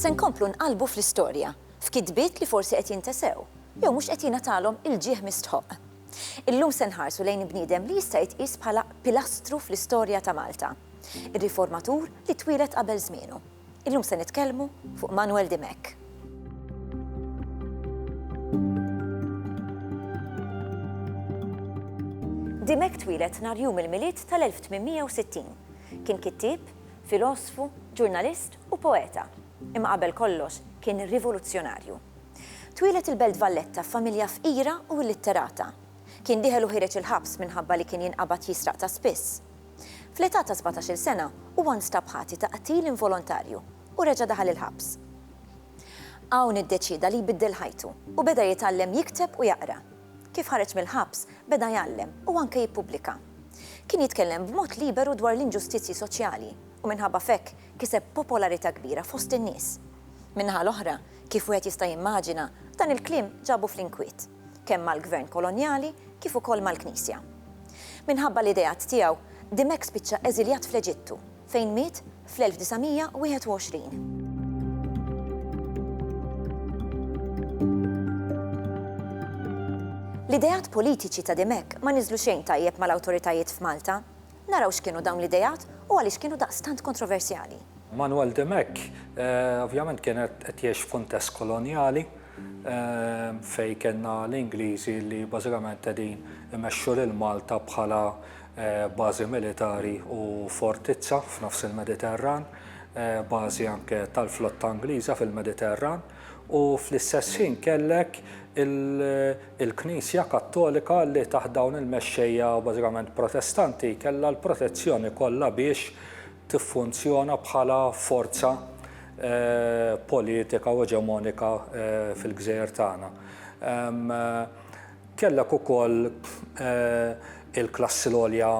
Se nkomplu nqalbu fl-istorja, f'kitbiet li forsi qed jintesew, jew mhux qed jingħatalhom il-ġieħ mistħoq. Illum se nħarsu lejn bniedem li jista' jitqies bħala pilastru fl-istorja ta' Malta. Ir-riformatur li twieled qabel żmienu. Illum se nitkellmu fuq Manuel Dimech. Dimech twieled nhar jum il-Milied tal-1860. Kien kittieb, filosfu, ġurnalist u poeta, imma qabel kollox kien rivoluzzjonarju. Twieled il-Belt Valletta f'familja fqira u illitterata. Kien diħel u ħireġ il-ħabs minħabba li kien jinqabad jisraq ta' spiss. Fl-età ta' sbatax-il sena, huwa nstab ħati ta' qtil involontarju u reġa' daħal il-ħabs. Hawn iddeċieda li jbiddel ħajtu u beda jitgħallem jikteb u jaqra. Kif ħareġ mill-ħabs, beda jgħallem u anke jippubblika. Kien jitkellem b'mod liberu dwar l-inġustizzji soċjali u minħabba f'hekk kiseb popolarità kbira fost in-nies. Min-naħa l-oħra, kif wieħed jista' jimmaġina, dan il-kliem ġabu fl-inkwiet. kemm mal-gvern kolonjali kif ukoll mal-Knisja. Minħabba l-ideat tiegħu, Dimech spiċċa eżiljat fl-Eġittu, fejn miet fl-1921. L-ideat politiċi ta' Dimech ma niżlu xejn tajjeb mal-awtoritajiet f'Malta. Naraw x'kienu dawn l-ideat u għaliex kienu daqstant kontroversjali. Manuel Dimech ovvjament kien qed jgħix f'kuntest kolonjali fejn kellna l-Ingliżi li bażikament qegħdin imexxu lil Malta bħala bażi militari u fortizza f'nofs il-Mediterran, bażi anke tal-flotta Ingliża fil-Mediterran u fl-istess ħin kellek il- Il-Knisja Kattolika li taħt dawn il-mexxejja bażikament Protestanti kellha l-protezzjoni kollha biex tiffunzjona bħala forza politika u eġemonika fil-gżejjer tagħna. Kellek ukoll il-klassi l-għolja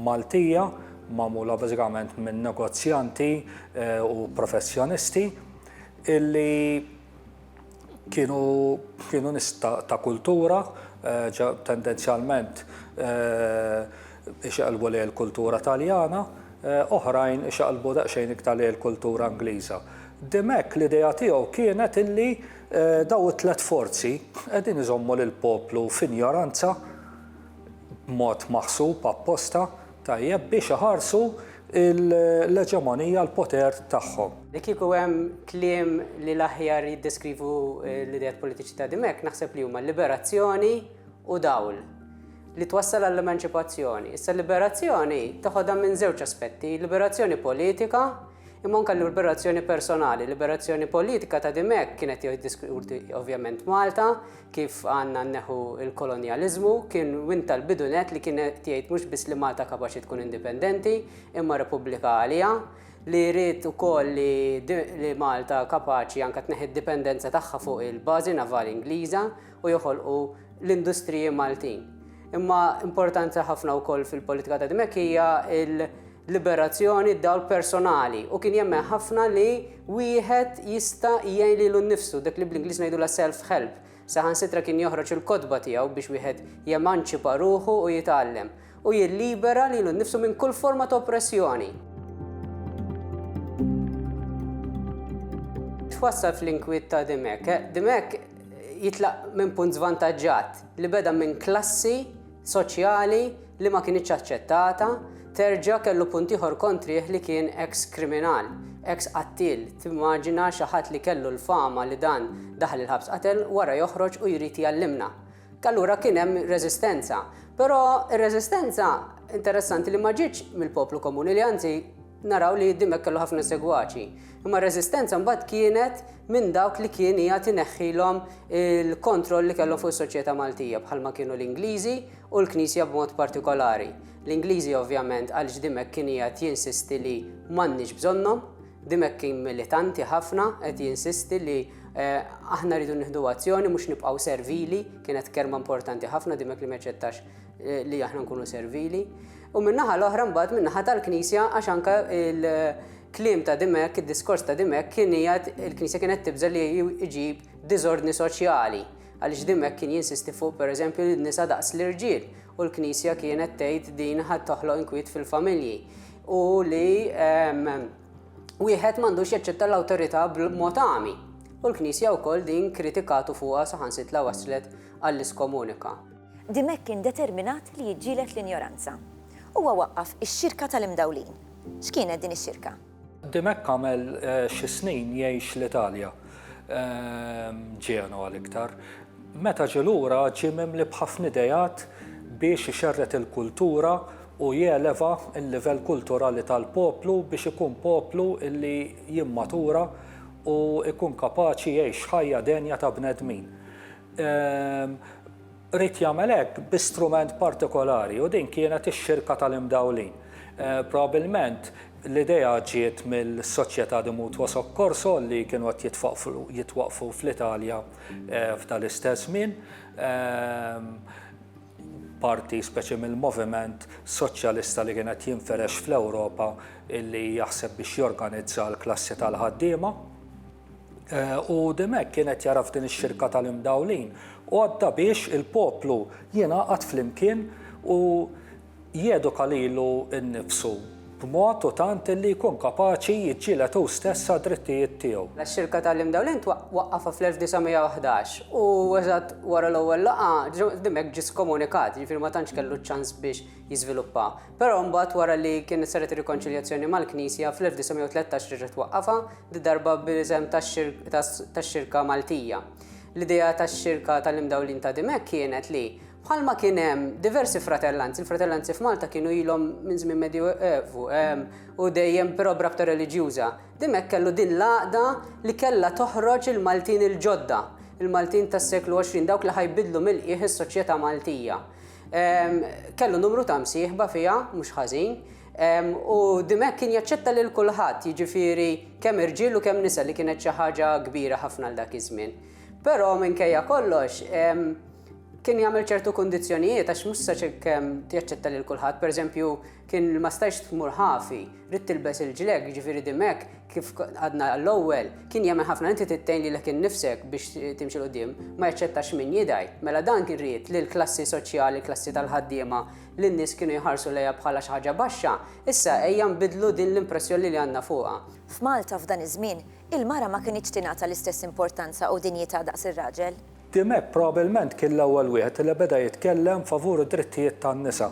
Maltija magħmula bażikament minn negozjanti u professjonisti illi, kienu nis ta' kultura, tendenzjalment ixeqlbu lejn il-kultura Taljana, oħrajn ixeqlbu daqsxejn iktar lejn il-kultura Ingliża. Dimech l-idea tiegħu kienet illi dawn it-tliet forzi qegħdin iżommu lill-poplu f'injoranza b'mod maħsub apposta, tajjeb biex iħarsu l-eġemonija, l-poter tagħhom. Li kieku hemm kliem li l-aħjar jiddeskrivu l-ideat politiċi ta' Dimech, naħseb li huma liberazzjoni u dawl li twassal għall-emanċipazzjoni. Issa l-liberazzjoni taħodha minn żewġ aspetti, liberazzjoni politika imma anke liberazzjoni personali. Liberazzjoni politika ta' dimek kienet jiddiskuti ovvjament Malta, kif għandna nneħħu l-kolonjaliżmu, kien win tal-bidu nett li kien qed jgħid mhux biss li Malta kapaċi tkun indipendenti, imma repubblika għaliha, li ried ukoll li Malta kapaċi anke tneħħi d-dipendenza tagħha fuq il-bażi navali Ingliża u joħolqu l-industriji Maltin. Imma importanti ħafna wkoll fil-politika ta' Dimech hija liberazzjoni, dawl personali, u kien jemmen ħafna li wieħed jista' jgħin lilu nnifsu, dak li bl-Ingliż ngħidulha self-help. Saħansitra kien joħroġ il-kotba tiegħu biex wieħed jemanċipa ruħu u jitgħallem, u jillibera lilu nnifsu minn kull forma ta' oppressjoni. twassal fl-inkwiet ta' Dimech. Dimech jitlaq minn punt żvantaġġat li beda minn klassi soċjali li ma kinitx aċċettata, terġa' kellu punt ieħor kontrih li kien eks kriminal, eks qattiel, timmaġina xi ħadd li kellu l-fama li dan daħal il-ħabs qatel wara joħroġ u jrid jgħallimna. Allura kien hemm reżistenza. Però r-reżistenza interessanti li ma ġietx mill-poplu komuni li anzi naraw li Dimech kellu ħafna segwaċi. Imma r-reżistenza mbagħad kienet minn dawk li kien qiegħed ineħħilhom il-kontroll li kellhom fuq is-soċjetà Maltija bħalma kienu l-Ingliżi u l-Knisja b'mod partikolari. L-Ingliżi ovvjament għal x'dimek kien qiegħed jinsisti li m'għandniex bżonnhom, dimek kien militanti ħafna qed jinsisti li eh, aħna rridu nieħdu azzjoni mhux nibqgħu servili, kienet kelma importanti ħafna dimek li meċċettax Eh, li aħna nkunu servili. U minnaħa l-oħra mbagħad minnaħa tal-Knisja għax anka il-klim ta' dimek, id-diskors ta' dimek kien jgħid il-Knisja kienet tibża li jġib diżordni soċjali għaliex dimek kien jinsisti fuq pereżempju n-nisa daqs l-irġiel u l-Knisja kienet tgħid din ħadd toħloq inkwiet fil-familji u li ehm, wieħed m'għandux jaċċetta l-awtorità b'mod għami. U l-Knisja wkoll din kritikatu fuqha saħansitla waslet għall-iskomunika. Dimech kien determinat li jiġġieled l-injoranza. Huwa waqqaf ix-Xirka tal-Imdawlin. X'kienet din ix-xirka? Dimech għamel xi snin jgħix l-Italja, Ġenova l-iktar. Meta ġie lura ġie mimli b'ħafna ideat biex ixerred il-kultura u jeleva l-livell kulturali tal-poplu biex ikun poplu li jimmatura u jkun kapaċi jgħix ħajja denja ta' bnedmin. ried jagħmel hekk bi strument partikolari u din kienet ix-Xirka tal-Imdawlin. Probabbilment l-idea ġiet mill-Società di Mutuo Soccorso li kienu qed jitwaqqfu fl-Italja f'dan l-istess żmien. parti speċi mill-moviment soċjalista li kien qed jinfirex fl-Ewropa li jaħseb biex jorganizza l-klassi tal-ħaddiema. U Dimech kien qed jara f'din ix-xirka tal-imdawlin għodda biex il-poplu jingħaqad flimkien u Jeduka lilu nnifsu b'mod u tant illi jkun kapaċi jiġġieled hu stess għad-drittijiet tiegħu. Ix-Xirka tal-Imdawlin twaqqafha fl-1911 u eżatt wara l-ewwel laqgħa Joseph Mack ġie skomunikat, jiġifieri ma tantx kellu ċ-ċans biex jiżviluppa. Però mbagħad wara li kienet saret ir-rikonċiljazzjoni mal-Knisja fl-1913 reġa' twaqqafha, did-darba bl-isem tax-Xirka Maltija. L-idea tax-Xirka tal-Imdawlin ta' Dimech kienet li, Bħalma kien hemm diversi fratellanzi, il-fratellanzi f'Malta kienu ilhom minn żmien Medjuevu ehm, u dejjem però b'rabta reliġjuża. Dimhekk kellu din l-għaqda li kellha toħroġ il-Maltin il-ġodda, il-Maltin tas-seklu 20, dawk li ħajbidlu mill-qiegħ is-soċjetà Maltija. Ehm, kellu numru ta' msieħba fiha, mhux ħażin, ehm, u dimhekk kien jaċċetta lil kulħadd, jiġifieri kemm irġiel u kemm nisa li kienet xi ħaġa kbira ħafna għal dak iż-żmien. Però minkejja kollox, ehm, kien jagħmel ċertu kundizzjonijiet għax mhux sa kemm jaċċetta lil kulħadd, pereżempju kien ma stajx tmur ħafi, rid tilbes il-ġleg, jiġifieri dimek kif għadna l-ewwel, kien jagħmel ħafna inti tittejn lilek innifsek biex timxi l-qudiem, ma jaċċettax min jidgħi. Mela dan kien ried li l-klassi soċjali, l-klassi tal-ħaddiema, li n-nies kienu jħarsu lejha bħala xi ħaġa baxxa, issa ejja nbiddlu din l-impressjoni li għandna fuqha. F'Malta f'dan iż-żmien, il-mara ma kinitx tingħata l-istess importanza u dinjità daqs ir-raġel. Dimech probabbilment kien l-ewwel wieħed li beda jitkellem favur id-drittijiet tan-nisa.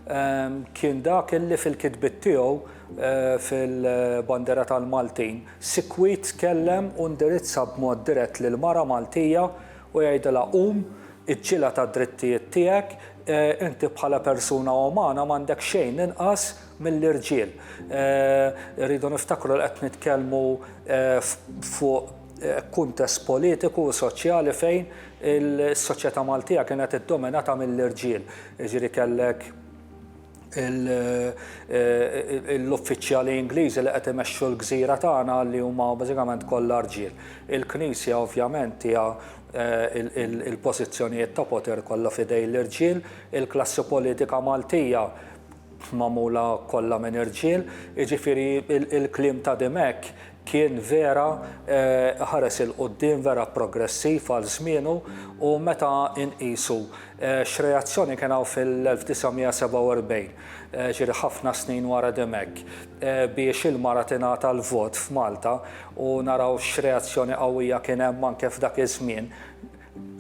Kien dak illi fil-kitbiet tiegħu fil-Bandiera tal-Maltin, sikwit tkellem u ndirizza b'mod dirett lill-mara Maltija u jgħidilha qum, iġġieled għad-drittijiet tiegħek, inti bħala persuna umana m'għandek xejn inqas mill-irġiel. Irridu niftakru li qed nitkellmu fuq kuntest politiku u soċjali fejn is-soċjetà Maltija kienet iddominata mill-irġiel. Jiġifieri kellek l-uffiċjali Ingliżi li qed imexxu l-gżira tagħna li huma bażikament kollha rġiel. Il-Knisja ovvjament hija l-pożizzjonijiet ta' poter kollha f'idejn l-irġiel, il-klassi politika Maltija magħmula kollha minn irġiel, jiġifieri l-kliem ta' Dimech Kien vera ħares 'il quddiem, vera progressiv għal żmienu u meta nqisu x'reazzjoni kien hawn fil-1947, ġieli ħafna snin wara diem hekk, biex il-mara tingħata l-vot f'Malta u naraw x'reazzjoni qawwija kien hemm anke f'dak iż-żmien,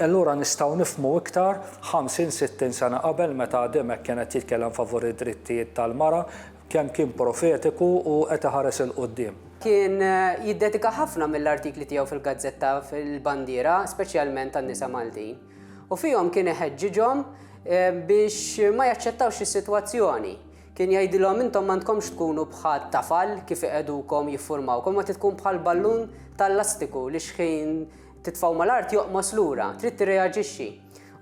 allura nistgħu nifhmu iktar ħamsin, sittin sena qabel meta diem hekk kien qed jitkellem favur id-drittijiet tal-mara, Kemm kien profetiku u qed iħares 'il quddiem! Kien jiddedika ħafna mill-artikli tiegħu fil-gazzetta fil-Bandiera speċjalment għan-nisa Maltin u fihom kien iħeġġiġhom biex ma jaċċettawx is-sitwazzjoni. Kien jgħidilhom intom m'għandkomx tkunu bħat tafal kif iqegħdukom jiffurmawkom ma trid tkun bħal ballun tal-lastiku li xħin titfgħu mal-art joqmos lura, trid tirreaġixxi.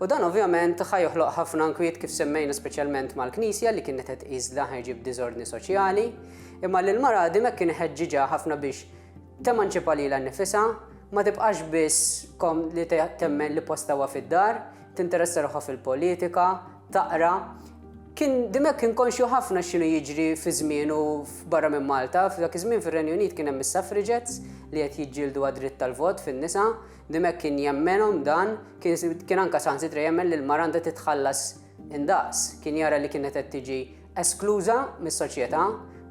U dan ovvjament ħa joħloq ħafna nkwiet kif semmejna speċjalment mal-Knisja li kienet qed tqis li dan ħa jġib diżordni soċjali, imma lil mara din hekk kien iħeġġiġha ħafna biex temanċipa lilha nnifisha, ma tibqax biss kom li temmen li postha huwa fid-dar, tinteressa ruħha fil-politika, taqra. Kien Dimech kien konxju ħafna x'inhu jiġri fi żmienu barra minn Malta, f'dak iż-żmien fir-Renju Unit kien hemm is-suffragettes li qed jiġġieldu għad-dritt tal-vot fin-nisa, Dimek kien jemmenhom dan, kien anke saħansitra jemmen li l-mara għandha titħallas indaqs. Kien jara li kienet qed tiġi eskluża mis-soċjetà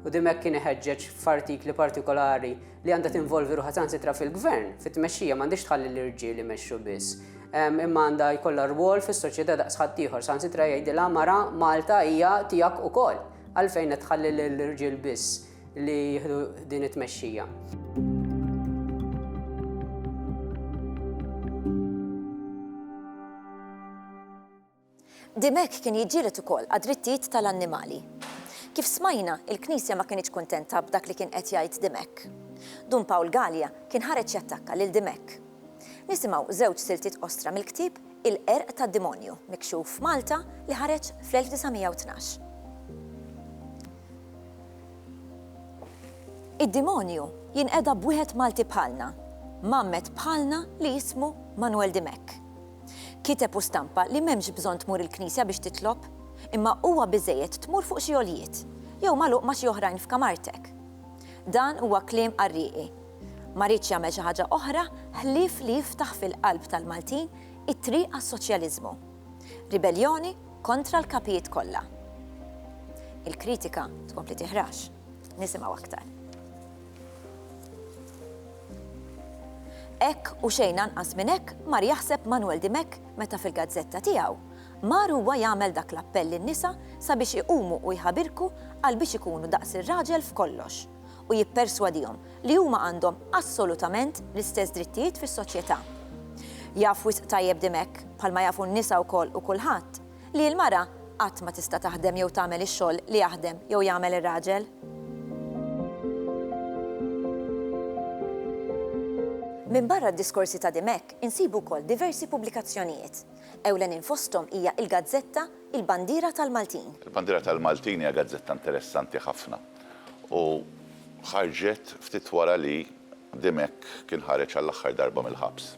u dimek kien iħeġġeġ f'artikli partikolari li għandha tinvolvi ruħha saħansitra fil-gvern, fit-tmexxija, m'għandhiex tħalli l-irġiel imexxu biss, imma għandha jkollha rwol fis-soċjetà daqs ħaddieħor. Saħansitra jgħidilha, mara, Malta hija tiegħek ukoll, għalfejn qed tħalli lill-irġiel biss? li jieħdu din it-tmexxija. Dimech kien jiġġieled ukoll għad-drittijiet tal-annimali. Kif smajna, il-Knisja ma kinitx kuntenta b'dak li kien qed jgħid Dimech. Dun Pawl Galea kien ħareġ jattakka lil Dimech. Nisimgħu żewġ siltiet qosra mill-ktieb Il-Qerq tad-Demonju, mikxuf f'Malta, li ħareġ fl-1912. Id-dimonju jinqeda b'wieħed Malti bħalna, mgħammed bħalna li jismu Manwel Dimech. Kiteb u stampa li m'hemmx bżonn tmur il-knisja biex titlob, imma huwa biżżejjed tmur fuq xi għoljiet, jew magħluq ma' xi oħrajn f'kamartek. Dan huwa kliem qarrieqi. Ma riedx jagħmel xi ħaġa oħra ħlief li jiftaħ fil-qalb tal-Maltin it-triq għas-soċjaliżmu. Ribelljoni kontra l-kapijiet kollha. Il-kritika tkompli tiħrax. Nisimgħu aktar. Hekk u xejn anqas minn hekk mar jaħseb Manuel Dimech meta fil-gazzetta tiegħu mar huwa jagħmel dak l-appell lin-nisa sabiex iqumu u jħabirku għal biex ikunu daqs ir-raġel f'kollox u jipperswadihom li huma għandhom assolutament l-istess drittijiet fis-soċjetà. Jaf wisq tajjeb Dimech, bħalma jafu n-nisa wkoll u kulħadd, li l-mara qatt ma tista' taħdem jew tagħmel ix-xogħol li jaħdem jew jagħmel ir-raġel. Minbarra d-diskorsi ta' Dimech insibu wkoll diversi pubblikazzjonijiet. Ewlenin fosthom hija l-gazzetta Il-Bandiera tal-Maltin. Il-Bandiera tal-Maltin hija gazzetta interessanti ħafna. u ħarġet ftit wara li Dimech kien ħareġ għall-aħħar darba mill-ħabs.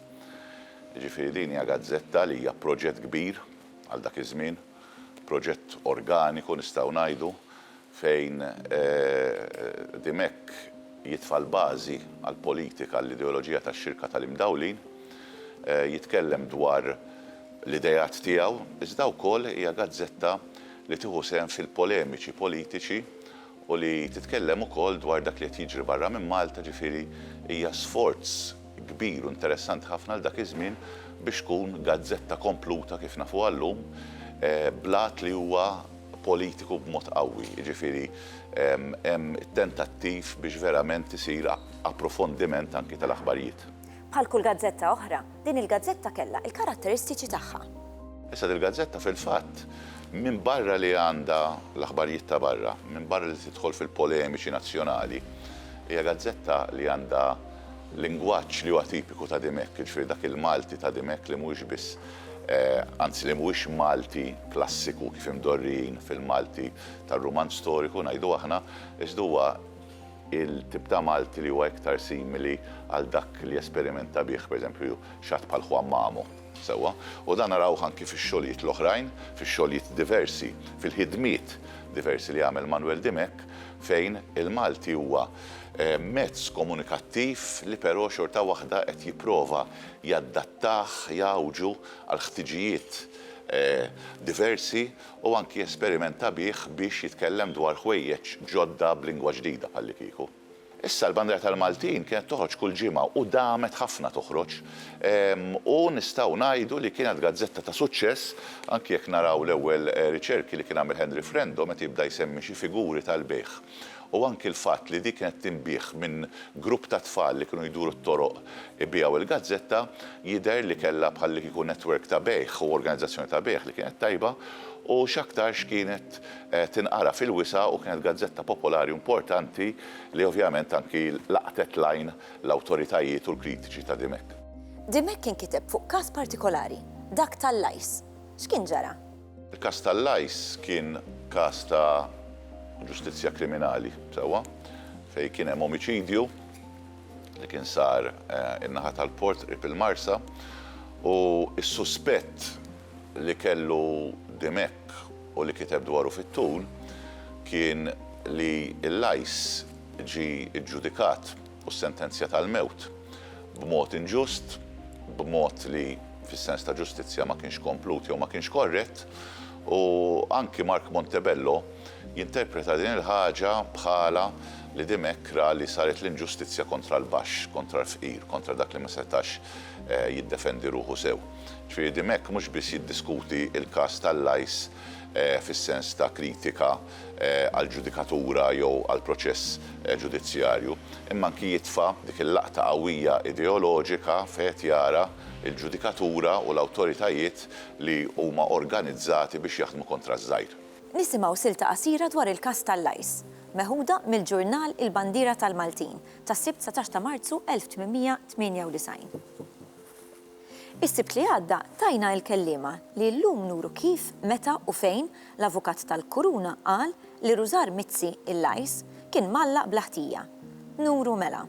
Jiġifieri din hija gazzetta li hija proġett kbir għal dak iż-żmien, proġett organiku nistgħu ngħidu, fejn Dimech jitfa' l-bażi għall-politika, għall-ideoloġija tax-Xirka tal-Imdawlin, jitkellem dwar l-ideat tiegħu, iżda wkoll hija gazzetta li tieħu sehem fil-polemiċi politiċi u li titkellem ukoll dwar dak li qed jiġri barra minn Malta, ġifieri hija sforz kbir u interessanti ħafna għal dak iż-żmien biex tkun gazzetta kompluta kif nafuha llum bl-għad li huwa politiku b'mod qawwi, jiġifieri hemm it-tentattiv biex verament isir approfondiment anki tal-aħbarijiet. Bħal kull gazzetta oħra, din il-gazzetta kellha l-karatteristiċi tagħha. Issa dil-gazzetta fil-fatt, minbarra li għandha l-aħbarijiet ta' barra, minbarra li tidħol fil-polemiċi nazzjonali, hija gazzetta li għandha lingwaġġ li huwa tipiku ta' dimhekk, jiġifieri dak il-Malti ta' dimhekk li mhuwiex biss, anzi li mhuwiex Malti klassiku kif imdorrijin fil-Malti tar-rumanz storiku, ngħidu aħna, iżda huwa Il-tip ta' Malti li huwa iktar simili għal dak li jesperimenta bih, pereżempju, xi ħadd bħal Juan Mamo. Sewwa. U dan narawh anki fix-xogħlijiet l-oħrajn, fix-xogħlijiet diversi, fil-ħidmiet diversi li għamel Manuel Dimech, fejn il-Malti huwa mezz komunikattiv li però xorta waħda qed jipprova jadattah, jgħawġu għall-ħtiġijiet diversi u anki jesperimenta bih biex jitkellem dwar ħwejjeġ ġodda b'lingwa ġdida bħallikieku. Issa l-Bandera tal-Maltin kienet toħroġ kull ġimgħa u damet ħafna toħroġ u nistgħu ngħidu li kienet gazzetta ta' suċċess anki jekk naraw l-ewwel riċerki li kien għamel Henry Frendo meta jibda jsemmi xi figuri tal-bejgħ u anki l-fatt li di kienet tinbiegħ minn grupp ta' tfal li kienu jduru t-toroq ibiegħu l-gazzetta jidher li kellha bħallikieku network ta' bejgħ u organizzazzjoni ta' bejgħ li kienet tajba u x'aktarx kienet tinqara fil-wisa' u kienet gazzetta popolari u importanti li ovvjament anki laqtet l-għajn l-awtoritajiet u l-kritiċi ta' Dimech. Dimech kien kiteb fuq każ partikolari, dak tal-Lajs. X'kien ġara? Il-każ tal-Lajs kien każ ta' ġustizzja kriminali, sewwa, fejn kien hemm omiċidju li kien sar in-naħa tal-port qrib il-Marsa u s-suspett li kellu Dimech u li kiteb dwaru fit-tul kien li l-Lajs ġie ġġudikat. u s-sentenzja tal-mewt, b'mod inġust, b'mod li, fis-sens ta' ġustizzja, ma kienx komplut jew ma kienx korrett, u anki Mark Montebello jinterpreta din il-ħaġa bħala li Dimech ra li saret l-inġustizzja kontra l-baxx, kontra l-fqir, kontra dak li ma setax jiddefendi ruħu sew. Ġifieri Dimech mhux biss jiddiskuti l-każ tal-Lajs fis-sens ta' kritika, għall-ġudikatura jew għall-proċess ġudizzjarju, imma anki jitfa' dik il-laqta qawwija ideoloġika fejn qed jara l-ġudikatura u l-awtoritajiet li huma organizzati biex jaħdmu kontra ż-żgħir. Nisimgħu silta qasira dwar il-każ tal-Lajs, meħuda mill-ġurnal Il-Bandiera tal-Maltin tas-Sibt 19 ta' Marzu 1898. Is-Sibt li għadda tajna il-kelliema li llum nuru kif, meta u fejn l-Avukat tal-Kuruna qal li Rużar Mizzi, il-Lajs, kien mgħallaq bla ħtija. Nuru mela.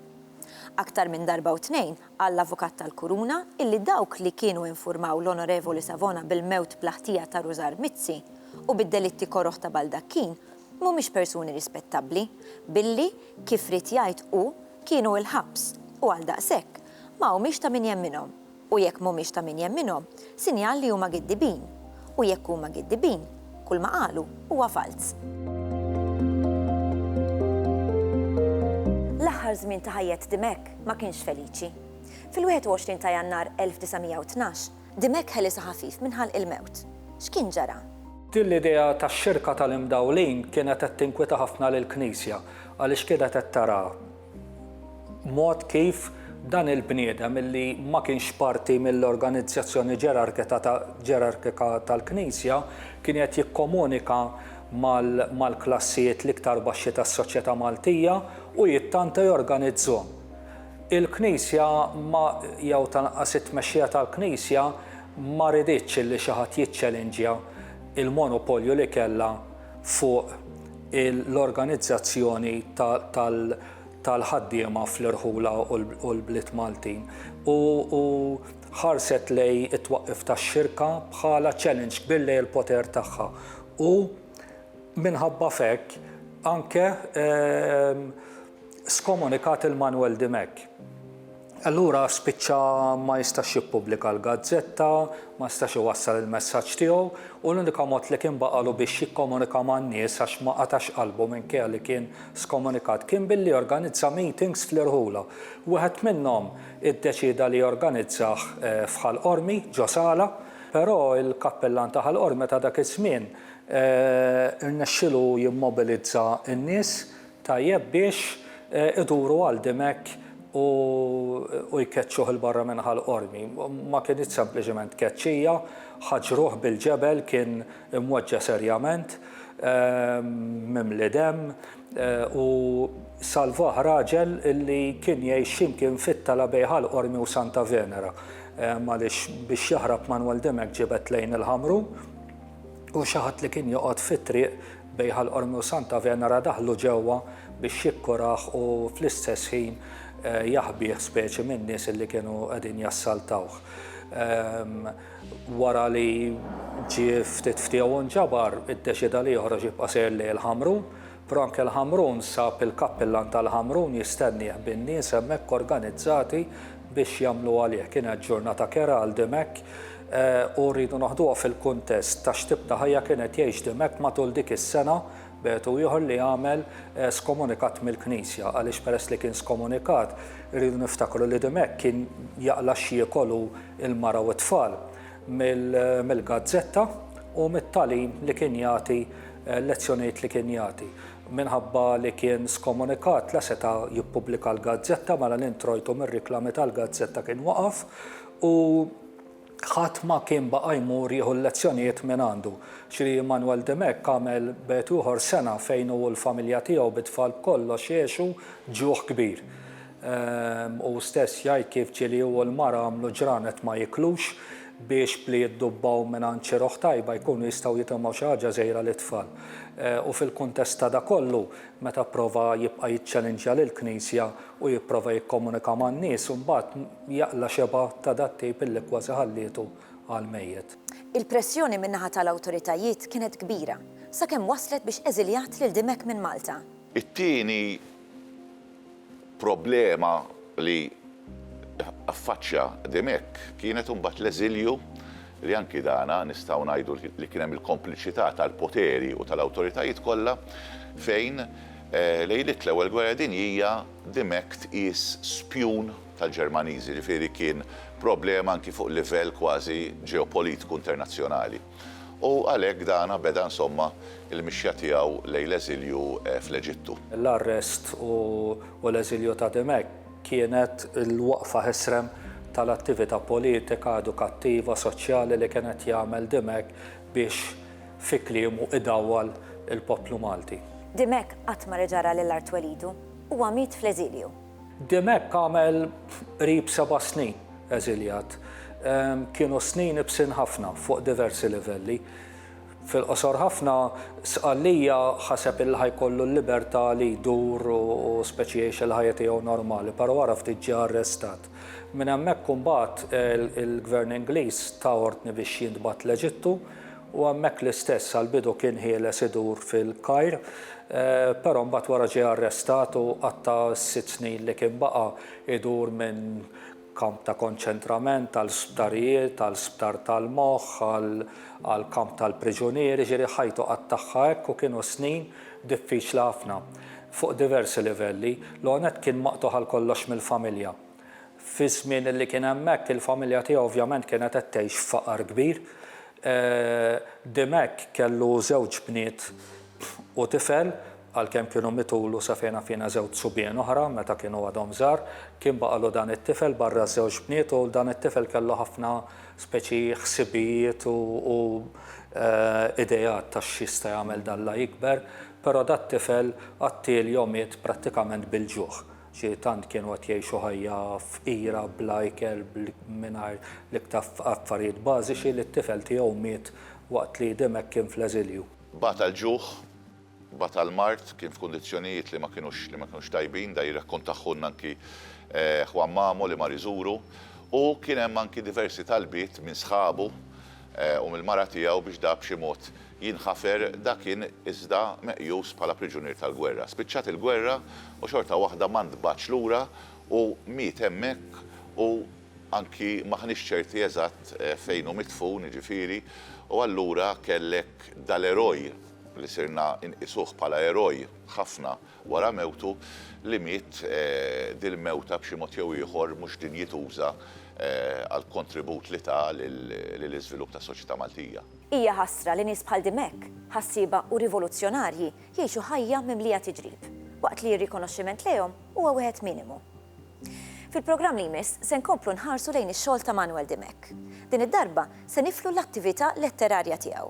Aktar minn darba u tnejn qal l-Avukat tal-Kuruna illi dawk li kienu infurmaw l-Onorevoli Savona bil-mewt bla ħtija ta' Rużar Mizzi u bid-delitti koroh ta' Baldacchine mhumiex persuni rispettabbli billi, kif ried jgħid hu, kienu il-ħabs u għaldaqshekk, ma humiex ta' min jemminhom, u jekk m'humiex ta' min jemminhom, sinjal li huma giddibin, u jekk huma giddibin, kulma qalu huwa falz. L-aħħar żmien ta' ħajjet Dimech ma kienx feliċi. Fil-21 ta' Jannar 1912, Dimech ħelisha ħafif minn ħalq il-mewt. X'kien ġara? Din l-idea tax-xirka tal-imdawlin kienet qed tinkwieta ħafna lill-Knisja, għaliex kienet qed taraha mod kif dan il-bniedem li ma kienx parti mill-organizzazzjoni ġerarkika tal-Knisja kien qed jikkomunika mal-klassijiet l-iktar baxxi tas-soċjetà Maltija u jittanta jorganizzhom. Il-Knisja ma, jew tal-anqas it-tmexxija tal-Knisja ma riditx li xi ħadd jiċċelinġja l-monopolju li kellha fuq l-organizzazzjoni tal-ħaddiema fl-irħula u l-bliet Maltin u ħarset lejn it-twaqqif tax-xirka bħala challenge kbir lejn il-poter tagħha u minħabba f'hekk anke skomunikat lil Manuel Dimech. Allura spiċċa ma jistax jippubblika l-gazzetta, ma setax iwassal il-messaġġ tiegħu u l-unika mod li kien baqagħlu biex jikkomunika man-nies għax ma qatax qalbu minkejja li kien skomunikat kien billi jorganizza meetings fl-irħula. Wieħed minnhom iddeċieda li jorganizzah f'Ħal Qormi, ġo sala, però l-kappillan ta' Ħal Qormi ta' dak iż-żmien rnexxielu jimmobilizza n-nies, Tajjeb biex iduru għal Dimech u jkeċċuh 'il barra minn Ħal Qormi. Ma kinitx sempliċiment tkeċċija, ħaġruh bil-ġebel, kien imweġġa' serjament, mimli demm u salvah raġel li kien jgħix xi mkien fit-tala bejn Ħal Qormi u Santa Venera. Għaliex biex jaħrab Manwel Dimech ġibed lejn il-Ħamrun. U xi ħadd li kien joqgħod fit-triq bejn Ħal Qormi u Santa Venera daħħlu ġewwa biex jikkurah u fl-istess ħin jaħbih speċi min-nies li kienu qegħdin jassaltawh. Wara li ġie ftit ftiegħu nġabar, iddeċieda li joħroġ jibqa' sejr lejn il-Ħamrun. Frank El Hamroun sab il-kappillan tal-Hamroun jistennieh bin-nies hemmhekk organizzati biex jagħmlu għalih. Kienet ġurnata kerha għal Dimech u rridu naħduha fil-kuntest ta' x'tip ta' ħajja kien qed jgħix Dimech matul dik is-sena b'għedu ieħor li għamel skomunikat mill-Knisja għaliex peress li kien skomunikat irridu niftakru li Dimech kien jaqla' x'jiekol hu l-mara u t-tfal. mill-gazzetta u mit-tagħlim li kien jagħti, l-lezzjonijiet li kien jagħti. Minħabba li kien skomunikat la seta' jippubblika l-gazzetta mela l-introjtu mir-riklami tal-gazzetta kien waqaf u ħadd ma kien baqa' jmur jieħu l-lezzjonijiet mingħandu. Xi Manuel Dimech għamel b'għetu ieħor sena fejn hu u l-familja tiegħu bit-tfal b'kollox għexu ġuħ kbir. Hu stess jgħid kif ġieli hu u l-mara għamlu ġranet ma jiklux biex b'li jiddubbaw mingħand xi roħ tajba jkunu jistgħu jitemgħu xi ħaġa żgħira lit-tfal. U fil-kuntest ta' dak kollu, meta pprova jibqa' jiċċelinġja lill-Knisja u jipprova jikkomunika man-nies, imbagħad jaqla' xebgħa ta' dat-tip illi kważi ħallietu għal mejjet. Il-pressjoni min-naħa tal-awtoritajiet kienet kbira, sakemm wasslet biex eżiljat lil Dimech minn Malta. It-tieni Problema li affaċċja Dimech kienet imbagħad l-eżilju li anki dan nistgħu ngħidu li kien hemm il-kompliċità tal-poteri u tal-awtoritajiet kollha fejn lejliet l-Ewwel Gwerra Dinjija Dimech tqies spjun tal-Ġermaniżi, ġifieri kien problema anki fuq livell kważi ġeopolitiku internazzjonali. U għalhekk dana beda insomma l-mixja tiegħu lejn l-eżilju fl-Eġittu. L-arrest u l-eżilju ta' Dimech kienet il-waqfa ħesrem tal-attività politika, edukattiva, soċjali li kien qed jagħmel Dimech biex fi kliemu idawwal il-poplu Malti. Dimech qatt ma reġa' ra lil art twelidu. Huwa miet fl-eżilju. Dimech għamel qrib seba' snin eżiljat. Kienu snin ibsin ħafna fuq diversi livelli. Fil-qosor ħafna, Sqallija ħaseb illi ħa jkollu l-libertà li jdur u speċi jgħix il-ħajja tiegħu normali, però wara ftit ġie arrestat. Minn hemmhekk imbagħad il-Gvern Ingliż ta ordni biex jintbagħat l-Eġittu, u hemmhekk l-istess għall-bidu kien ħieles idur fil-Kajr, però mbagħad wara ġie arrestat u qatta' s-sitt snin li kien baqa' idur minn kamp ta' konċentrament għal sptarijiet, għal sptar tal-moħħ, għal kamp tal-priġunieri, jiġifieri ħajtu qattagħha hekk u kienu snin diffiċli ħafna fuq diversi livelli. L-ewwel nett kien maqtugħ għal kollox mill-familja. Fiż-żmien li kien hemmhekk, il-familja tiegħu ovvjament kienet qed tgħix f'faqar kbir. Dimech kellu żewġ bniet u tifel, għalkemm kienu mitulu sa fejn naf jiena żewġ subien oħra meta kienu għadhom żgħar. Kien baqgħalu dan it-tifel barra ż-żewġ bniet u dan it-tifel kellu ħafna speċi ħsibijiet u ideat ta' x'jista' jagħmel d'Alla jikber, però dat-tifel qattiel jew miet prattikament bil-ġuħ. Xi tant kienu qed jgħixu ħajja fqira, bla ikel, mingħajr l-iktar affarijiet bażiċi li t-tifel tiegħu miet waqt li Dimech kien fl-eżilju. Bata l-ġuħ, bata l-mard, kien f'kundizzjonijiet li ma kinux li ma kinux tajbin, dan jirrakkontaħħulna anki Juan Mamo li mar iżuru. U kien hemm anki diversi talbiet minn sħabu u mill-mara tiegħu biex dak b'xi mod jinħafer, dak kien iżda meqjus bħala priġunier tal-gwerra. Spiċċat il-gwerra u xorta waħda ma ntbagħatx lura u miet hemmhekk u anki m'aħniex ċerti eżatt fejn hu midfun, jiġifieri, u allura kellek dal-eroj li sirna nqisuh bħala eroj ħafna, wara mewtu, li miet dil-mewta b'xi mod jew ieħor mhux dinjituża għall-kontribut li ta lill-iżvilupp tas-soċjetà Maltija. Hija ħasra li nies bħal Dimech, ħassieba u rivoluzzjonarji jgħixu ħajja mimlija tiġrib, waqt li r-rikonoxximent lejhom huwa wieħed minimu. Fil-programm li jmiss se nkomplu nħarsu lejn ix-xogħol ta' Manuel Dimech. Din id-darba se niflu l-attività letterarja tiegħu.